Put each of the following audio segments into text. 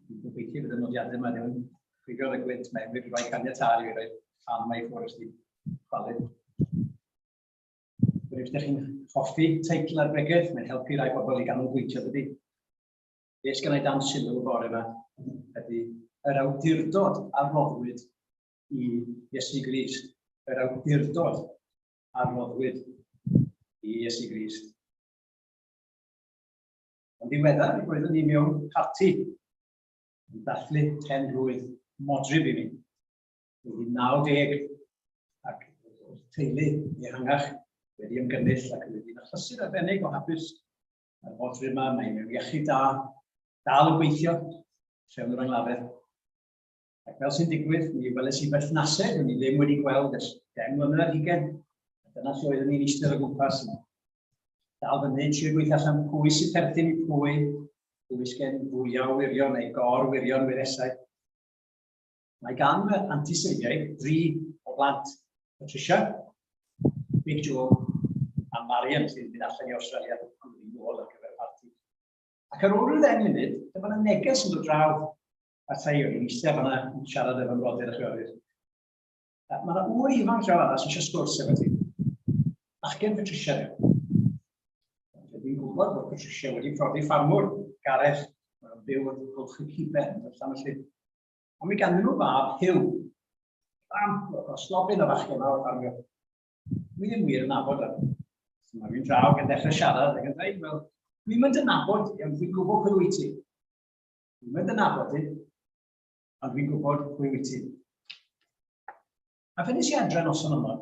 Dwi'n gobeithio bod y nodiadau yma ddim yn ffugio'r y gwynt mewn, wedi rhoi caniatau i roi rhan mae ffwrdd ysdi chwalu. Rwy'n ydych chi'n hoffi teitl ar bregeth, mae'n helpu rai pobl i ganolbwyntio dydy. Be sy'n ei dan sylw y bore yma ydy yr awdurdod a roddwyd i Iesu Gris, yr awdurdod a roddwyd i Iesu Gris. Yn ddiweddar, mi roeddwn ni mewn parti yn dathlu pen-blwydd modryb i mi. Wedi 90 ac o'r teulu ehangach wedi ymgynnull ac wedi yn achlysur arbennig o hapus ar fodryb yma, mae mewn iechyd da, dal yn gweithio, trefn yr anglafedd. Ac fel sy'n digwydd, mi weles i berthnasedd o'n i ddim wedi gweld ers gen mlynedd hugen. A dyna lle oeddwn ni'n eistedd o gwmpas yna. Dal fyny, trio gweithio allan pwy sy'n perthyn i pwy, pwy sgen fwyaf o wirion neu gor wirion wiresau. Mae gan y antiseiliaid dri o blant, Patricia, Big Joe a Marian sy'n mynd allan i Australia yn ôl ar gyfer parti. Ac ar ôl rhyw ddeng munud, dyma na neges yn dod draw a Thayo, yn eisiau fanna yn siarad efo'n rodyr a chwiorydd. Mae yna ŵr ifanc llaw arall eisiau sgwrs efo ti. Bachgen Patricia dwi. Dwi'n gwybod bod Patricia wedi profi ffarmwr, Gareth, mae'n byw yn gwlch y ciben, yn allan felly. Ond mi ganddyn nhw fab Hugh. Bam, o slobyn o fachgen mawr ffarmio. Dwi ddim wir yn nabod o. Mae fi'n draw gan ddechrau siarad ac yn dweud, wel, dwi'n mynd yn nabod, ond dwi'n gwybod pwy wyt ti. Dwi'n mynd yn nabod i, ond dwi'n gwybod pwy wyt ti. A fe nes i adre noson yma,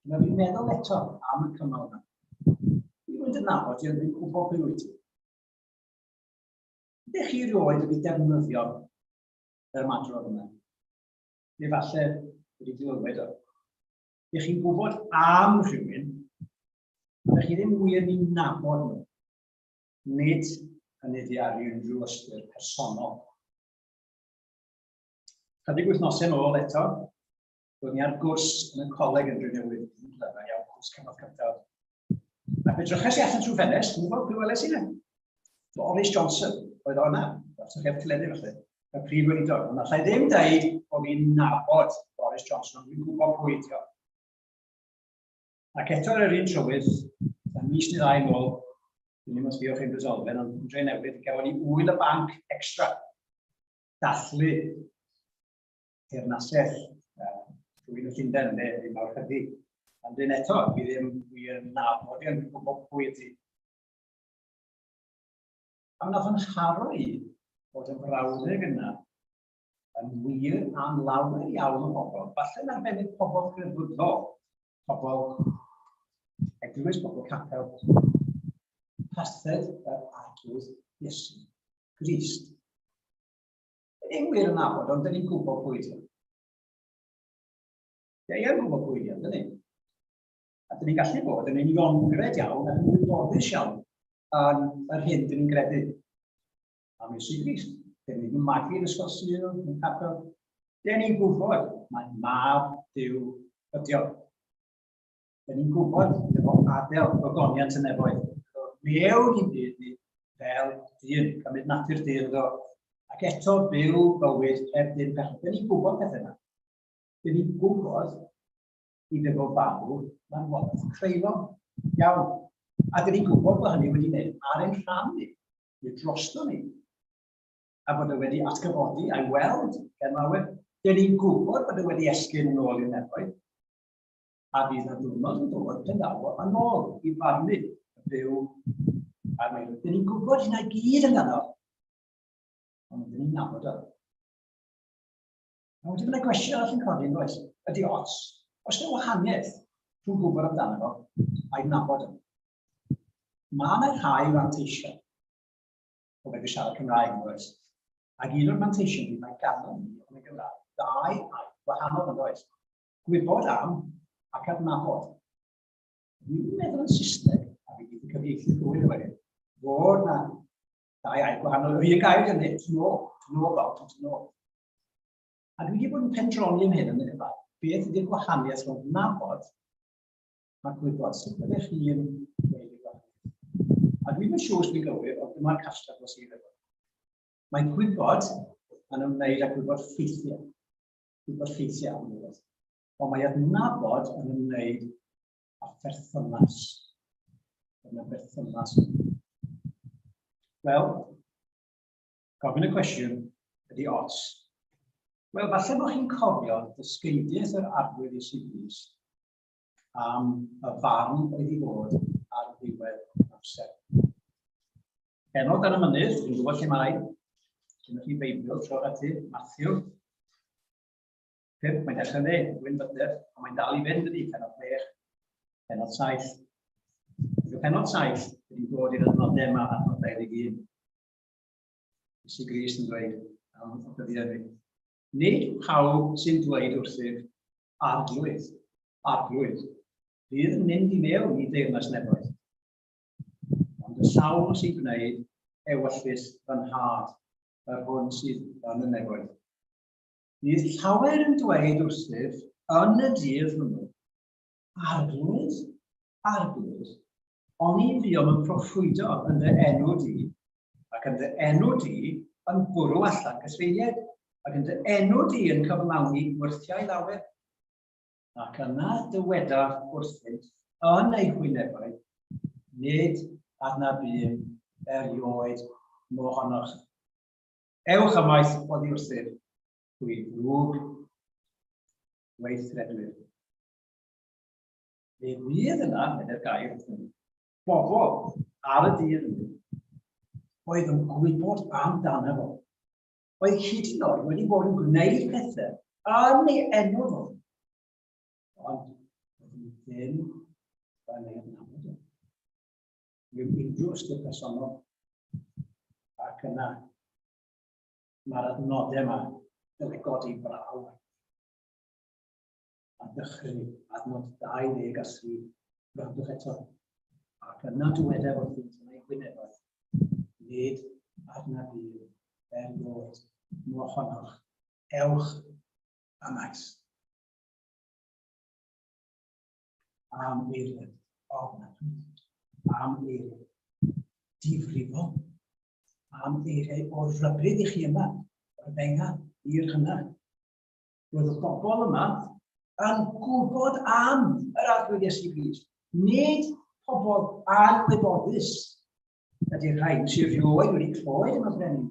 dyna fi'n meddwl eto am y cymal yna. Dwi'n mynd yn nabod i, ond dwi'n gwybod pwy wyt ti. Ydych chi rioed wedi defnyddio yr ymadrodd yna? Neu falle wedi glywed o. Ydych chi'n gwybod am rhywun, ydych chi ddim wir ni'n nabod nhw. Nid hynny di ar unrhyw ystyr personol. Chydig wythnosau yn ôl eto, roedd ni ar gwrs yn y coleg yn Drenewydd, yn Glyfau, iawn cwrs cyfnod cyntaf. Ac fe drychais i allan trwy ffenest, dwi'n gwybod pwy weles i na. Boris Johnson, oedd o'na, os ydych chi'n clefyd felly, y prif weinidog. Ond allai ddim dweud bod fi'n nabod Boris Johnson, ond dwi'n gwybod pwy ti o. Ac eto ar yr un trywydd, am mis neu ddau nôl, dwi'n ddim yn sbio chi'n resolfen, ond yn dre newydd, gafon ni wyl y banc extra. Dathlu teyrnasedd rhywun o Llundain, neu fi mawr hydi. Ond dyn eto, fi ddim yn nabod i'n gwybod pwy ydi. A wnaeth yn haro i bod yn frawddeg yna yn wir am lawer iawn o bobl, falle'n arbennig pobl crefyddol, pobl eglwys, pobl capel, parthed yr arglwydd Iesu Grist. Yn wir yn nabod, ond dyn ni'n gwybod pwy ydyn nhw. Ie, ie, gwybod pwy ydyn ni. A dyn ni'n gallu bod yn uniongred iawn ac yn wyboddus iawn yn yr hyn dyn ni'n gredu. Am y Sirgis, dyn ni'n magu yn ysgol sydd yn cadw. Dyn ni'n gwybod mae mab Dyw ydi o. Dyn ni'n gwybod efo adael gogoniant yn efoedd. Mewn i'n byd ni fel dyn, cymryd natur dyn ydo. Ac eto byw bywyd heb dyn pechod. Dyn ni'n gwybod pethau yna. Dyn ni'n gwybod i ddim o farw mae'n waith creulon. Iawn. A dyn ni'n gwybod bod hynny wedi gwneud ar ein rhan ni. neu drosto ni, a bod e wedi atgyfodi a'i weld gan lawer, dyn ni'n gwybod bod e wedi esgyn yn ôl i'r nefoedd, a bydd na diwrnod yn dod yn dawo yn ôl i farnu y byw a'r meirw. Dyn ni'n gwybod hynna gyd amdano, ond dyn ni'n nabod o. A wedyn mae'n gwestiwn arall yn codi yn oes, ydy os, os yna wahaniaeth rhwng gwybod amdano fo a'i nabod o. Mae yna rhai fanteisiau o fe siarad Cymraeg yn oes. Ac un o'r manteision ni mae ganddyn ni yn y Gymraeg ddau air wahanol yn oes. Gwybod am ac adnabod. Dwi'n meddwl yn Saesneg, a fi wedi cyfieithu ddwy o wedyn, fod na ddau air gwahanol yr un gair yn nid, no, no about it, no. A dwi wedi bod yn pendroni yn hyn yn y Gymraeg. Beth ydy'r gwahaniaeth rhwng nabod a gwybod sut byddech chi'n gwneud y gwahaniaeth. A dwi'n yn siŵr dwi'n gywir, ond dyma'r castar dros ei efo. Mae gwybod yn ymwneud â gwybod ffeithiau. Gwybod ffeithiau am rhywbeth. Ond mae adnabod yn ymwneud â pherthynas. Dyna berthynas. Wel, gofyn y cwestiwn ydy os. Wel, falle bod chi'n cofio dysgeidiaeth yr arwydd i sy'n am y farn oedd i fod ar ddiwedd amser. Enod ar y mynydd, dwi'n gwybod lle mae, dyna chi beibio, tro ati, Matthew. Pimp, mae'n dechrau dde, Gwyn Byder, ond mae'n dal i fynd ydi, penod chwech, penod saith. Dwi'n penod saith, dwi'n dod i'r adnodau yma, adnod 21. Isi Gris yn dweud, am y dyddiau fi. Nid pawb sy'n dweud wrthyf, Arglwydd, Arglwydd, fydd yn mynd i mewn i deyrnas nefoedd. Ond y sawl sy'n gwneud ewyllys fy nhad, yr hwn sydd yn y nefoedd. Bydd llawer yn dweud wrthyf yn y dydd hwnnw, Arglwydd, arglwydd, ond i fuom yn proffwydo yn dy enw di, ac yn dy enw di yn bwrw allan cysfeiliaid, ac yn dy enw di yn cyflawni wyrthiau lawer. Ac yna dywedaf wrthynt yn eu hwynebau, nid adnab un erioed mohonoch. Ewch ymaith oddi wrthyf, hwy ddrwg weithredwyr. Fe fydd yna, yn yr gair, bobl ar y dydd hynny oedd yn gwybod amdano fo. Oedd hyd yn oed wedi bod yn gwneud pethau yn ei enw fo. Ond wedi ddim yn ei adnabod o. Mewn unrhyw ystyr personol. Ac yna, mae'r adnodau yma yn ei godi braw. a dechrau ar nod 20 a sydd gwrandwch eto. Ac yna dywedaf wrth yn ei gwynebau, nid arna fi er bod mo honnoch, ewch a maes. Am eiriau, ofnadwy, am eiriau, difrifol, am eiriau o'r rhybryd i chi yma, o'r benga i'r hynna. Roedd y bobl yma yn gwybod am yr arglwydd Iesu Grist. Nid pobl anwybodus ydy'r rhain sy'n rhywed wedi clywed yn y brenin.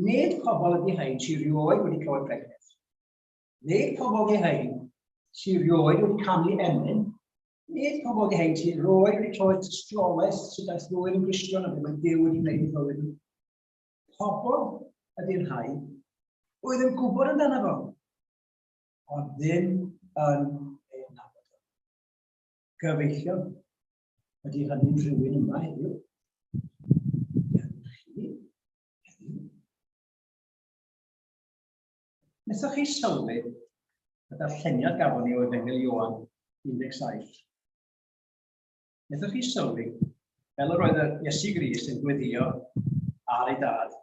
Nid pobl ydy rhain sy'n rhywed wedi clywed pregeth. Nid pobl ydy rhain sy'n rhywed wedi canu emyn Nid pobl wedi hyn sy'n rhoi wedi troed tystiolaeth sydd daeth rwy'n yn gristion a ddim yn Duw wedi gwneud yn fywyd nhw. Pobl ydy'r rhai oedd yn gwybod amdano fo, ond ddim yn ei nabod o. Gyfeillion, ydy hynny'n rhywun yma heddiw? Nesaf chi sylwi y darlleniad gafon ni o Efengyl Ioan 17. Wnaethoch chi sylwi, fel yr oedd yr Iesu Gris yn gweddio ar ei dad,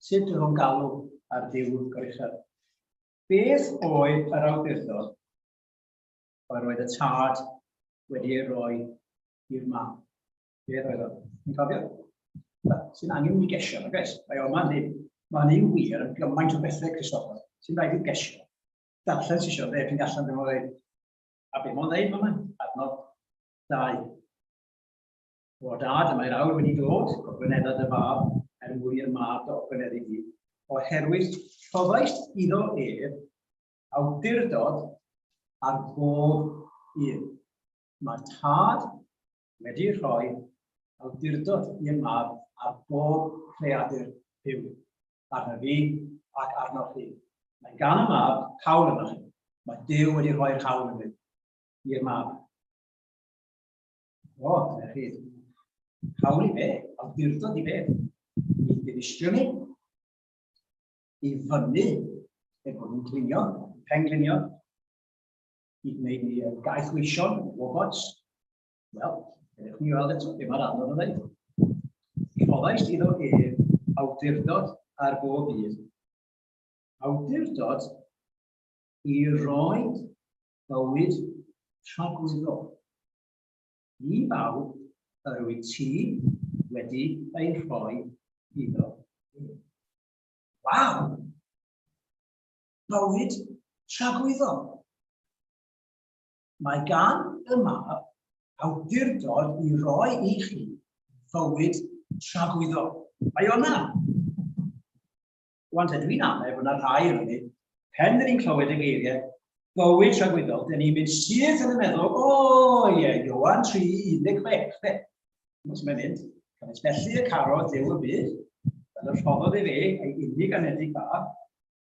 sut oedd o'n galw ar Dyw Goruchel? Beth oedd yr awdurdod yr oedd y tad wedi ei roi i'r mam? Beth oedd o? Yn cofio? Sy'n angen i gesio, na gais? Mae o'n ma'n hyn. Mae'n un wir yn gymaint o bethau, Christopher, sy'n rhaid i gesio. Darllen sy'n siarad, eich chi'n gallan ddim o'n dweud, a beth mae'n dweud, mae'n adnod Dau. O dad, mae'r awr wedi dod, gogwynedda dy fab, er mwyn i'r mab dy ogwyneddu di, oherwydd rhoddais iddo ef awdurdod ar bob un. Mae tad wedi rhoi awdurdod i'r mab ar bob creadur byw, arno fi ac arno chi. Mae gan y mab hawl yno chi. Mae Dyw wedi rhoi'r hawl yn fi. i'r mab. O, dyna chi. Hawl i fe, awdurdod i fe, i ddinistrio ni, i fyny, er bod nhw'n glinio, penglinio, i wneud ni yn gaeth weision, robots. Wel, ydych ni weld eto, dim ar anodd o ddeud. Rhoddais iddo ef awdurdod ar bob un. Awdurdod i roi bywyd tragwyddol. Ni bawb yr wyt ti wedi ei rhoi iddo. Waw! Bywyd tragwyddol. Mae gan y mab awdurdod i roi i chi fywyd tragwyddol. Mae o'na. Wan te dwi'n amau bod yna rhai yn hynny, pen dyn ni'n clywed y geiriau bywyd tragwyddol, dyn ni'n mynd syth yn y meddwl, o ie, yeah, Iowan 3, 16, fe. Os mae'n mynd, cynnes felly y caro dew y byd, fel y rhoddodd i fe, ei unig anedig fa,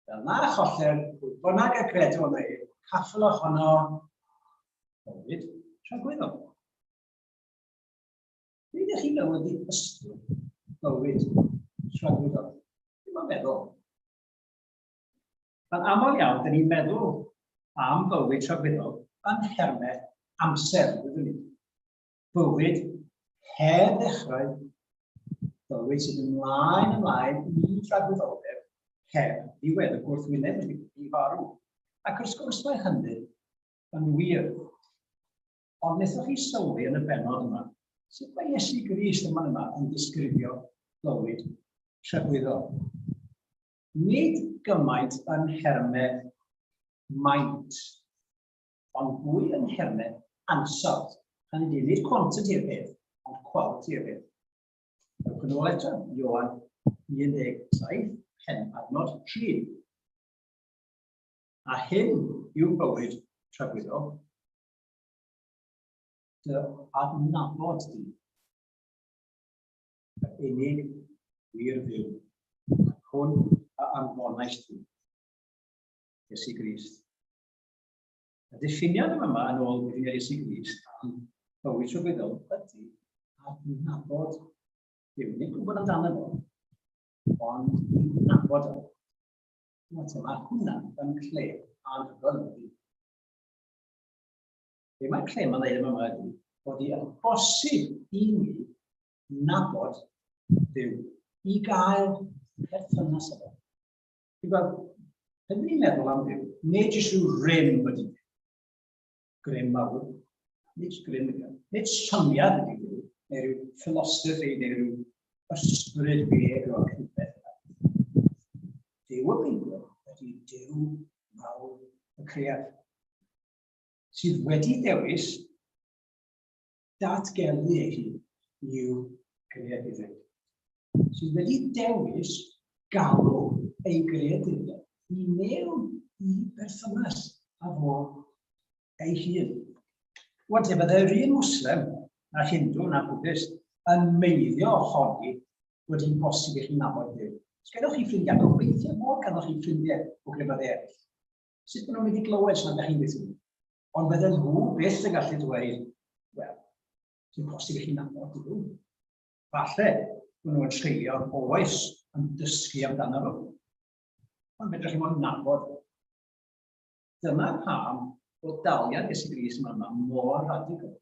fel na choller, pwy bynnag y credu o'n ei, caffel ohono, bywyd tragwyddol. Be ydych chi'n meddwl ydy ysbryd bywyd llawryddol? Dwi'n ma'n meddwl. Mae'n aml iawn, dyn ni'n meddwl am bywyd llawryddol yn hermau amser, byddwn ni. Bywyd her ddechrau, bywyd sydd ymlaen ymlaen i llawryddoldeb her diwedd y gwrthwyneb wedi i farw. Ac wrth gwrs mae hynny yn wir. Ond wnaethoch chi sylwi yn y benod yma, sut mae Iesu Grist yma yma yn disgrifio bywyd trefwyddol? Nid gymaint yn nhermau maint, ond fwy yn nhermau ansawdd. Hynny yw, nid quantity y peth, ond quality y peth. Ewch yn ôl eto, Iowan 17, pen adnod 3. A hyn yw bywyd trefwyddol, Dy adnabod di. Yr unig wir fyw, ac hwn a anfonais ti. Iesu Grist. Y diffiniad yn yma yn ôl Gwydyn Iesu Grist am bywyd trwybyddol ydy adnabod Dyw. Nid gwybod amdano fo, ond adnabod o. Mae hwnna yn lle anhygoel ydy. Be mae Clem yn dweud yma ydy bod hi yn bosib i ni nabod Dyw, i gael perthynas efo. Ti'n gweld, pan ni'n meddwl am Dyw, nid jyst rhyw rym wedi Dyw. Grym mawr, nid grym ydy. Nid syniad ydy Dyw, neu rhyw philosophy, neu rhyw ysbryd beg o'r rhywbeth. Dyw y Beibl ydy Dyw mawr y cread, sydd wedi dewis datgelu ei hun i'w greadigrwydd, sydd wedi dewis galw ei greadigrwydd i mewn i berthynas a fo ei hun. Wel, te byddai'r un Muslim, na Hindu, na Buddhist, yn meiddio ohoni bod hi'n bosib i chi nabod Dyw. Os gennych chi ffrindiau, gobeithio bod gennych chi ffrindiau o grefydd eraill. Sut maen nhw'n mynd i glywed sy'n ydych chi'n gweithio? Ond bydden nhw byth yn gallu dweud, wel, sy'n bosib i chi nabod Dyw. Falle, maen nhw'n treulio oes yn dysgu amdano nhw. Ond fedrwch chi mo'n nabod Dyna pam bod daliad Iesu Gris yma yma mor radical.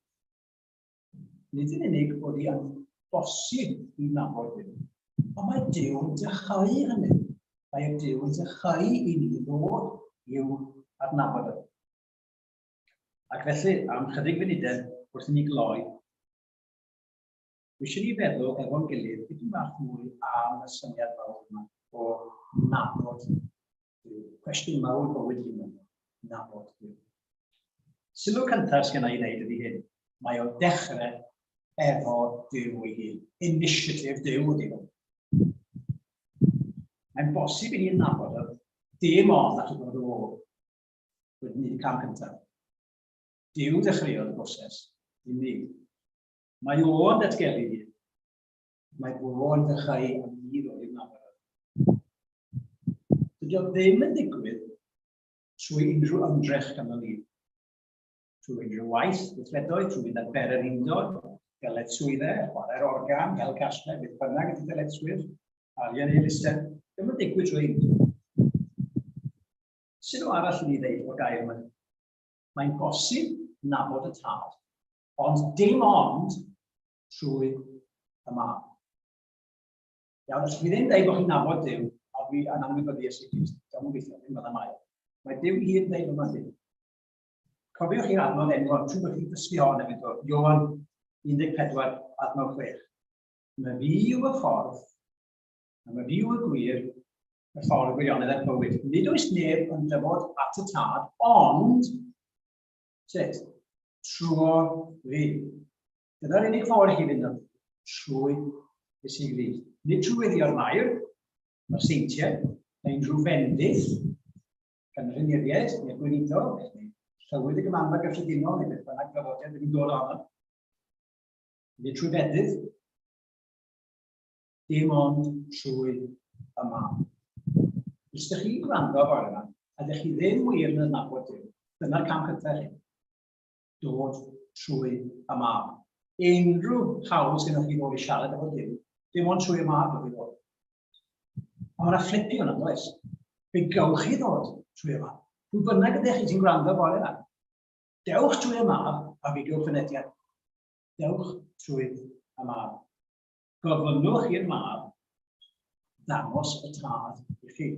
Nid yn unig bod hi yn bosib i nabod Dyw, ond mae Dyw yn dychau hynny. Mae Dyw yn dychau i ni ddod i'w adnabod ef. Ac felly, am chydig funudau wrth i ni gloi, eisiau ni feddwl efo'n gilydd dipyn bach mwy am y syniad fawr yma o nabod Duw. Cwestiwn mawr bywyd hyn yma, nabod Duw. Sylw cyntaf sy'n ei wneud ydy hyn. Mae o'n dechrau efo Duw ei hun. Initiative Duw ydy hwn. Mae'n bosib i ni'n nabod o dim ond at y bod o wedi gwneud y cam cyntaf. Duw ddechreuodd y broses, dim ni. Mae o'n datgelu ni. Mae bro yn dechrau am ni roi mafarad. Dydy o ddim yn digwydd trwy unrhyw ymdrech gan y lif. Trwy unrhyw waith, gweithredoedd, trwy fynd ar bere'r undod, galet swydde, chwarae'r organ, hel casle, beth bynnag ydy dyletswydd, arian ei elusen, ddim yn digwydd trwy undod. Sut o arall i ni ddeud o gair yma? Mae'n bosib nabod y tad, ond dim ond trwy y mân. Iawn, os chi ddim dweud bod chi'n nabod Dyw, a dwi yn anwybyddu Iesu Grist, gawn nhw'n gweithio, ddim byddai mai. Mae Dyw i hun dweud yma ddim. Cofiwch chi'r adnodd enwog trwy bod chi'n dysgu hon yn eto, Iowan 14, adnodd 6. Mae fi yw y ffordd, a mae fi yw y gwir, y ffordd gwirionedd a'r bywyd. Nid oes neb yn dyfod at y tad, ond sut? Trwy fi. Dyna'r unig ffordd i chi fynd am trwy y sy'n glir. Nid trwy weddio'r mair, mae'r seintiau, mae unrhyw fendith gan yr uniriaid neu'r gweinidog, neu llywydd y gymanfa gyffredinol neu beth bynnag draddodiad wedi dod ohono. Nid trwy fedydd, dim ond trwy y mam. Os ydych chi'n gwrando fawr yma, a ydych chi ddim wir yn adnabod Dyw, dyna'r cam cyntaf chi. dod trwy y mab. Unrhyw hawl sydd chi ddod i siarad efo Duw, dim ond trwy y mab ydy fod. A mae'n fflipio yna, does? Fe gawch chi ddod trwy y mab. Pwy bynnag ydych chi sy'n gwrando bore yna? Dewch trwy y mab a fi gywch fynediad. Dewch trwy y mab. Gofynnwch i'r mab ddangos y tad i chi.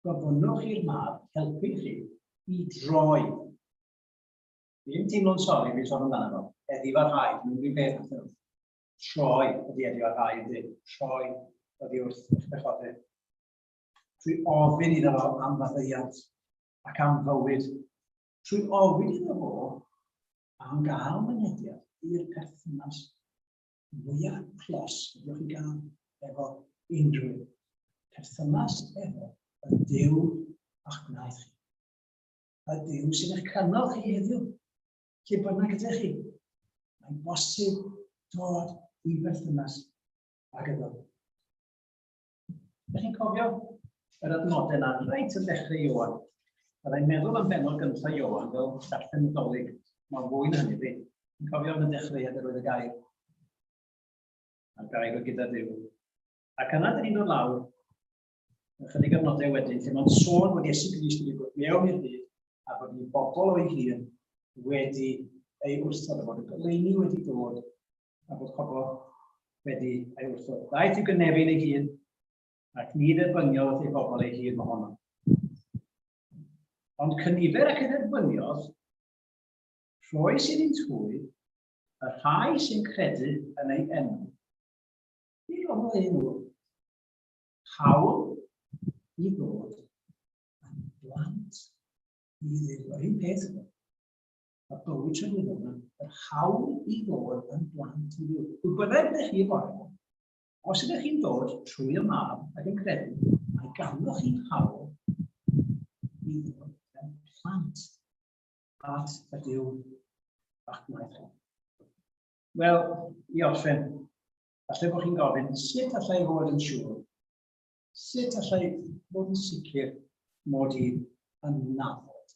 gofynnwch i'r mab helpu chi i droi. Dwi'n teimlo'n sori fi sôn amdano fo. Eddi fy rhai, dwi'n rhywun beth wrth nhw. Troi ydi eddi fy rhai ydi. Troi ydi wrth eich pechodydd. Trwy ofyn iddo fo am faddeiant ac am fywyd. Trwy ofyn iddo fo am gael mynediad i'r perthynas mwyaf clos ydych chi'n gael efo unrhyw perthynas efo y Dyw a'ch gwnaeth chi. Y Dyw sy'n eich canol chi heddiw, lle bynnag ydych chi. Mae'n bosib dod i berthynas ag ydw. Ydych chi'n cofio yr adnodau na reit yn dechrau Iowan? Byddai'n meddwl am benod gyntaf Iowan fel darllen y dolyg. Mae'n fwy na hynny, fi. Yn cofio am y dechreuad yr oedd y gair. A'r gair o gyda Dyw. Ac yna dyn ni'n dod lawr ychydig adnodau wedyn lle mae'n sôn bod Iesu Grist wedi bod mewn i'r byd a bod ni bobl o'i hun wedi ei wrthod a bod y goleuni wedi dod a bod pobl wedi ei wrthod. Daeth i gynefin ei hun ac ni dderbyniodd ei bobl ei hun ohono. Ond cynifer ac edderbyniodd, rhoi sy'n un twy, y rhai sy'n credu yn ei enw. Ni roedd ei enw. Hawl i ddod yn blant i ddim. Yr un peth yma. a bywyd trefnyddol yn yr hawl i ddod yn blant i fyw. Pwy bynnag ydych chi bore, os ydych chi'n dod trwy y mab ac yn credu, mae ganddoch chi'n hawl i ddod yn plant at y Dyw bach gwaith hwn. Wel, i orffen, falle bod chi'n gofyn, sut allai fod yn siŵr? Sut allai fod yn sicr mod i yn nabod?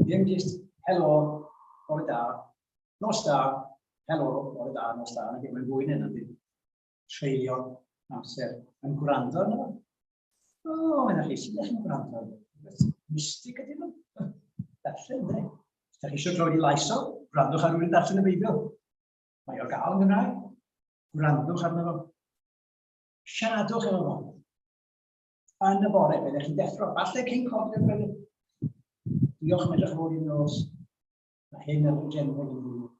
Ddim just helo, bore da, nos da, helo, bore da, nos da. Mae'n mynd fwy neu ddim treulio amser yn gwrando arno. O, oh, mae'n chi, sydd eich yn gwrando? Mystig ydy nhw. Darllen, ne? Da chi eisiau troi i lais o, gwrandwch ar rhywun darllen y Beibl. Mae o gael yn Gymraeg. Gwrandwch arno fo. Siaradwch efo fo. yn y bore, byddech chi'n deffro. Falle cyn cofio'r gwneud. Diolch yn edrych fawr i'n nos. Mae hyn ar y gen fod yn fwy.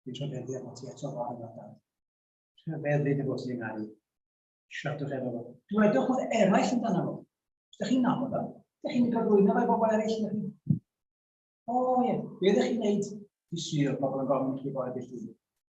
Dwi'n trafeddu efo ti eto fawr yn adael. Trafeddu efo ti yng Nghari. Siartwch efo fo. Dwedwch wrth eraill yn dan fo. Ydych chi'n nabod o? Ydych chi'n gyflwyno fe bobl eraill? O ie, be ydych chi'n neud? Fi syr pobl yn gofyn i chi fod y beth